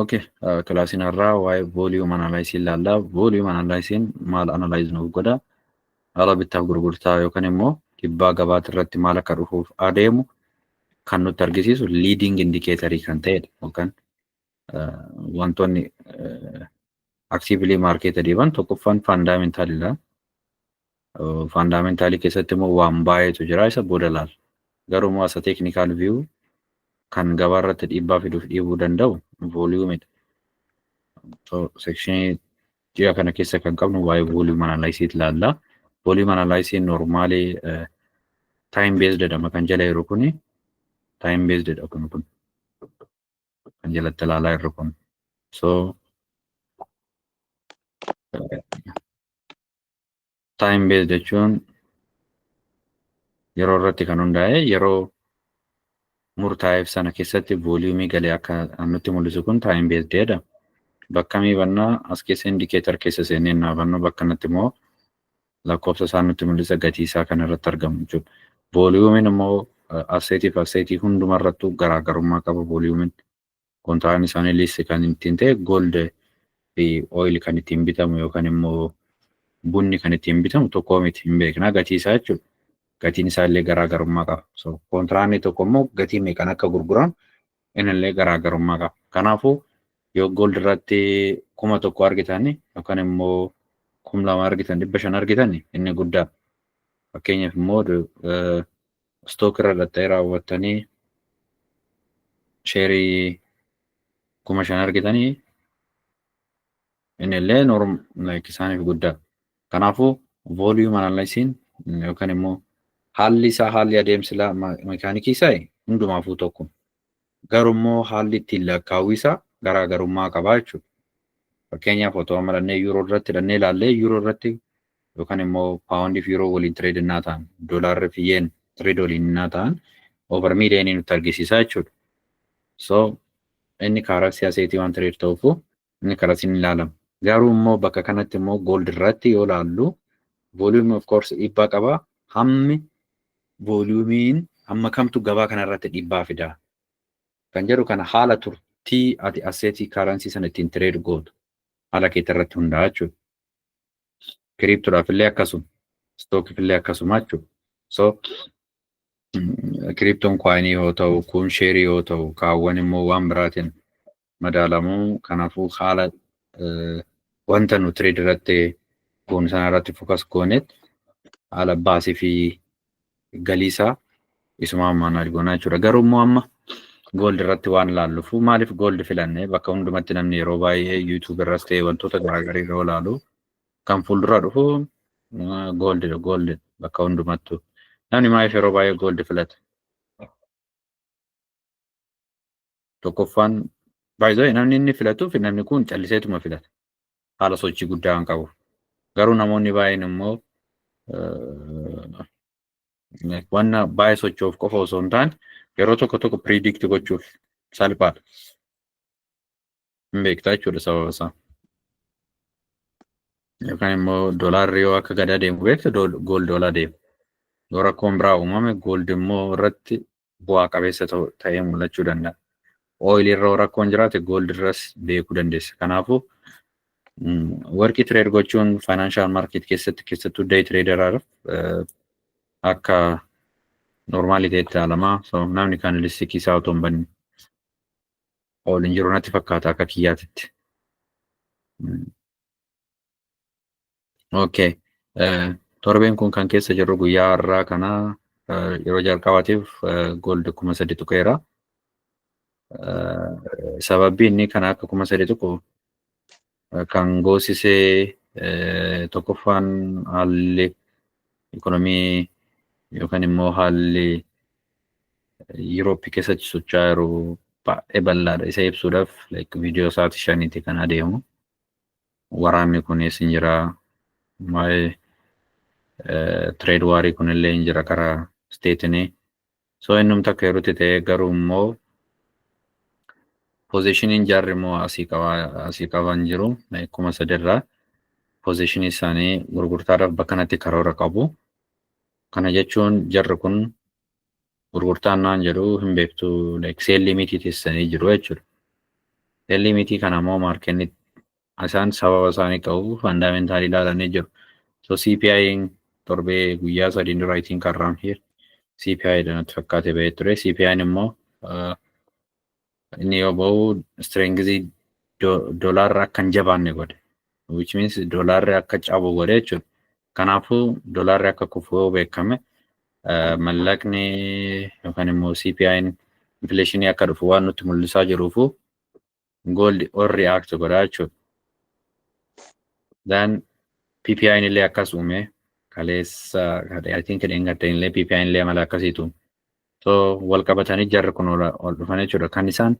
Okay, uh, kilaasiin har'aa waa'ee volume analysis ilaalla. Volume analysis maal analyze nuuf godha? Haala bittaaf gurgurtaa yookaan immoo dhibbaa gabaati irratti maal akka dhufuuf adeemu kan nutti argisiisu leading indicator kan ta'edha yookaan uh, wantoonni uh, actively marketed jiran tokkoffaan fundamental dha. Faandaameentalii keessatti immoo waan baay'eetu jira isa booda laal. Garuu immoo asa teeknikaal viyuu kan gabaa irratti dhiibbaa fiduuf dhiibuu danda'u vooliyuumidha. Sekshinii ji'a kana keessa kan qabnu waa'ee vooliyuum analaayisiit laalla. Vooliyuum analaayisiin noormaalii taayim beesdedha kan jala jiru kuni taayim beesdedha kun kun kan jalatti ilaalaa jirru kun. So Time based jechuun yeroo irratti kan hundaa'e yeroo murtaa'eef sana keessatti vooliyumii galee akka nutti mul'isu kun time based dha. Bakka mii bannaa as keessa indikeetar keessa seenee naa bannu bakka natti immoo lakkoofsa isaa nutti mul'isa gatii isaa kan irratti argamu jechuudha. Vooliyumiin immoo asseetii fi asseetii hundumarrattuu garaagarummaa qaba vooliyumiin. kontiraan isaanii liist kan ittiin ta'e gold fi oil kan ittiin bitamu yookaan immoo bunni kan ittiin bitamu tokkoo miti hin beekna gatii isaa jechuudha. Gatiin isaa illee garaagarummaa qaba. So kontiraanni tokko immoo gatii meeqan akka gurguramu inillee garaagarummaa qaba. Kanaafuu yoo gold irratti kuma tokko argitan yookaan immoo kum lama argitan dhibba shan argitan inni guddaa. Fakkeenyaaf immoo stock irra dhaxxee raawwattanii sheerii kuma shan argitanii innillee norm like isaaniif guddaa kanaafuu volume analysiin yookaan immoo haalli isaa haalli adeemsi isaa mekaanikii isaa hundumaafuu tokko Garummoo haalli ittiin lakkaawwisa garaa garummaa qabaa jechuudha. Fakkeenyaaf otoo amma dhannee yuuroo irratti dhannee ilaallee yuuroo irratti yookaan immoo paawundii fi yuuroo waliin tireed innaa ta'an doolaarri fi yeen tireed waliin innaa ta'an over miiliyoonii nutti argisiisaa jechuudha. So inni kaaraksii aseetii waan tireed ta'uuf inni karas hin ilaalamu. Garuu immoo bakka kanatti immoo gold irratti yoo ilaallu volume of course dhiibbaa qaba. Hammi volumiin hamma kamtu gabaa kana irratti dhiibbaa fida. Kan jedhu kana haala turtii ati asseetii kaaransii sana ittiin tireed gootu haala keetii irratti hundaa'a jechuudha. Kiriiptoodhaaf illee akkasuma. Stookiif illee akkasuma jechuudha. So kiriiptoon kwaayinii yoo ta'u kun sheerii yoo ta'u kaawwan immoo waan biraatiin madaalamu. Kanaafuu haala wanta nu trade irratti goonu sana irratti focus gooneet haala baasii fi galii isaa isuma manage goonaa jechuudha. Garuu immoo amma gold irratti waan ilaallufu maaliif gold filanne bakka hundumatti namni yeroo baay'ee YouTube irras ta'e wantoota garaagaraa yeroo ilaalu kan fuuldura dhufu gold gold bakka hundumattu namni maaliif yeroo baay'ee gold filata. tokkoffaan baay'ee namni inni filatuuf namni kun calliseetuma filata. Haala sochii guddaa kan qabu. Garuu namoonni baay'een immoo wanna baay'ee socho'uuf qofa osoo hin taane yeroo tokko tokko piriidikti gochuuf salphaadha. Hin beektaa jechuudha sababa isaa. Yookaan immoo doolaarri yoo akka gadaa deemu beektu gool doolaa deema. Yoo rakkoon biraa uumame gooldi immoo irratti bu'aa qabeessa ta'ee mul'achuu danda'a. Oil irra rakkoon jiraate gold irras beekuu dandeessa. Kanaafuu warqii tireed gochuun faayinaanshaal maarkeet keessatti keessattuu day tireedaraaf akka noormaalii ta'etti ilaalamaa so namni kan listikii isaa otoo hin banne ol hin jiru natti fakkaata akka kiyyaatitti. Okay. Eh, Torbeen kun kan keessa jirru guyyaa har'aa kana eh, yeroo jalqabaatiif eh, gold kuma sadi tuqeera. Eh, Sababni inni kana akka kuma sadi tuqu eh, kan goosisee eh, tokkoffaan haalli ikonomii yookaan immoo haalli Yuroopi keessatti socho'aa jiru baay'ee bal'aadha. Isa ibsuudhaaf like, viidiyoo sa'aatii shaniiti kan adeemu. waraanni kunis hin jira. Waa'ee tireed waarii kunillee hin jira karaa isteetinii. So innum takka yerootti ta'ee garuu immoo poozishiniin jaarri immoo asii qabaa asii qaban jiru kuma sadirraa poozishinii isaanii gurgurtaadhaaf bakka kanatti karoora qabu. Kana jechuun jarri kun gurgurtaan waan jedhu hin beektu like seel limitii teessanii jiru jechuudha. Seel limitii kana immoo maarkenni isaan sababa isaanii qabu faandaamentaali ilaalanii jiru. So CPI torbee guyyaa sadii dura I think around here CPI dha natti fakkaate bahee ture. CPI immoo Inni yoo ba'u istireengizii doolaarri akka hin jabaanne godhe. Which means doolaarri akka cabu godhe jechuudha. Kanaafuu doolaarri akka kufu yoo beekame mallaqni yookaan immoo CPI'n infleeshinii akka dhufu waan nutti mul'isaa jiruufu gooldi ol react godha jechuudha. Then PPI'n illee akkas uume kaleessa I think dheengadda illee PPI'n illee amala akkasiitu So wal qabatanii jarri kun ol ol dhufan jechuudha. Kan isaan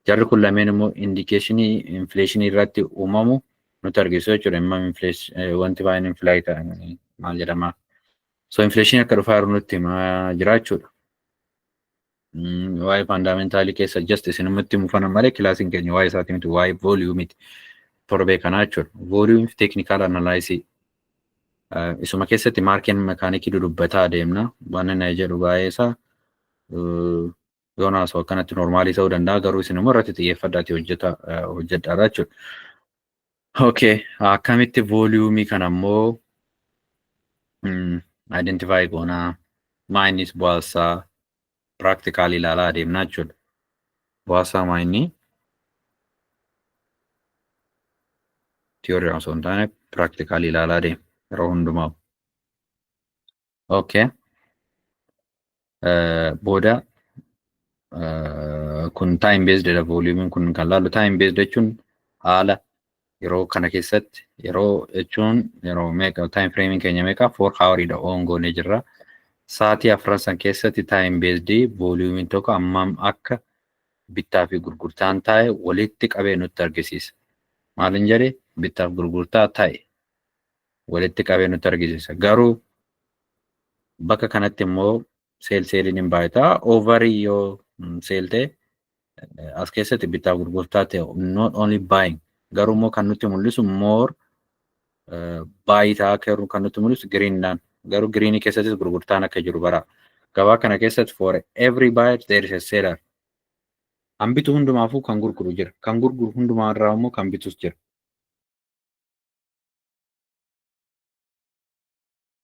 jarri kun lameen immoo indikeeshinii infleeshinii irratti uumamu nutti argisiisu jechuudha. Immoo inflees wanti baay'een infilaayi ta'an maal jedhama. So infleeshinii akka dhufaa jiru nutti himaa jira jechuudha. Mm, Waa'ee faandaameentalii keessa just isinumatti mufanan malee kilaasiin keenya waa'ee isaati miti waa'ee vooliyuumiti torbee kanaa jechuudha. Vooliyuumii fi teeknikaal analaayisii Isuma keessatti maarkeen mekaanikii dudubbataa adeemna. Waan inni jedhu baay'ee isaa yoon haasa'u akkanatti noormaalii ta'uu danda'a garuu isin immoo irratti xiyyeeffadhaati hojjeta hojjedhaadha jechuudha. Okay, akkamitti vooliyuumii kana immoo identify goonaa maayiniis bu'aasaa practical ilaalaa adeemnaa jechuudha. Bu'aasaa maa inni theory osoo hin taane practical ilaalaa adeema yeroo hundumaa. Okay. Eh, Booda eh, kun time based dha volume kun kan laalu time based jechuun haala Yeroo kana keessatti yeroo jechuun yeroo meeqa time framing keenya meeqa four hour dha oon goonee jirra. Sa'aatii afran san keessatti time based volume tokko ammam akka bittaa fi gurgurtaan taa'e walitti qabee nutti argisiisa. Maalin jedhe bittaaf gurgurtaa taa'e walitti qabee nutti argisiisa. Garuu bakka kanatti immoo seel seeliin hin baay'ata. Ovarii yoo seel ta'e as keessatti bittaa gurgurtaa ta'e not only buying garuu immoo kan nutti mul'isu more baay'itaa akka jiru kan nutti mul'isu giriinidhaan garuu giriinii keessattis gurgurtaan akka jiru bara gabaa kana keessatti for every buyer there is a seller kan bitu hundumaafuu kan gurguru jira kan gurguru hundumaa irraa immoo kan bitus jira.